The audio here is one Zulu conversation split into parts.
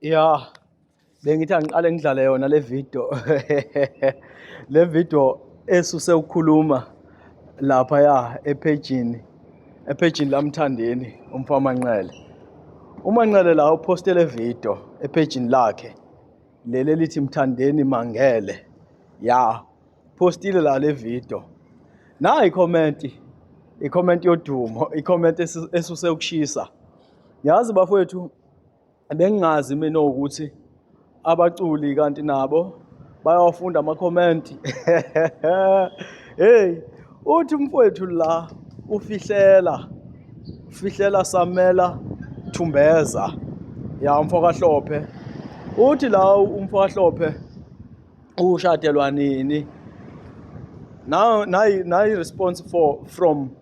ya bengithi angiqale ngidlale yona le video le video esuse ukukhuluma lapha ya ephejini ephejini lamthandeni umfama Nqele uma Nqele la uposte le video ephejini lakhe lele lithi mthandeni mangele ya postile la le video nayi comment i-comment yodumo i-comment esuse ukushisa yazi bafowethu bengingazi mina ukuthi abaculi kanti nabo bayawafunda ama-comment hey uthi umfowethu la ufihlela ufihlela samela thumbeza ya umfo kahlophe uthi la umfo kahlophe ushadelwa nini nayi nayi response for from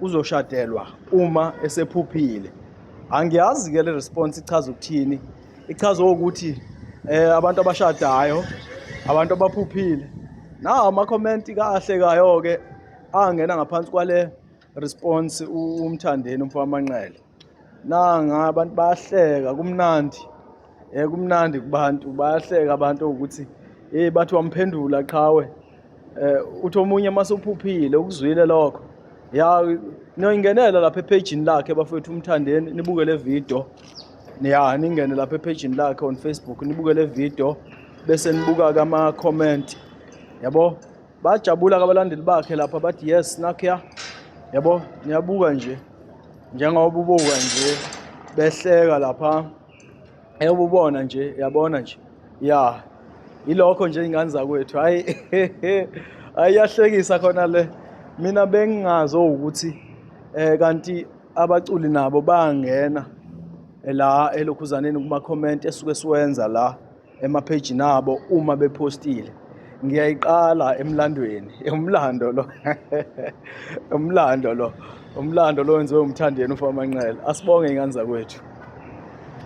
uzoshadelwa uma esephuphile angiyazi ke le response ichaza ukuthini ichaza ukuthi eh abantu abashadayo abantu abaphuphile nawo ama comment kahle kayo ke angena ngaphansi kwale response umthandeni umfana manqele nanga abantu bayahleka kumnandi eh kumnandi kubantu bayahleka abantu ukuthi eh bathi wamphendula qhawe eh uthi omunye masuphuphile ukuzwile lokho ya noyingenela lapha ephejini lakhe bafethu umthandeni nibuke le video ya ningene lapha ephejini lakhe on Facebook nibuke le video bese nibuka kama comment yabo Bajabula kabalandeli bakhe lapha bathi yes nakya yabo niyabuka nje njengoba ubuka nje behleka lapha eyobubona nje yabona nje ya ilokho nje ingane zakwethu hayi ayiyahlekisa khona le mina bengingazo ukuthi eh kanti abaculi nabo bangena la elokhuzaneni kuma comment esuke siwenza la emaphejini abo uma bephostile ngiyayiqala emlandweni umlando lo umlando lo umlando lo wenziwe umthandeni ufamanqele asibonge ingane zakwethu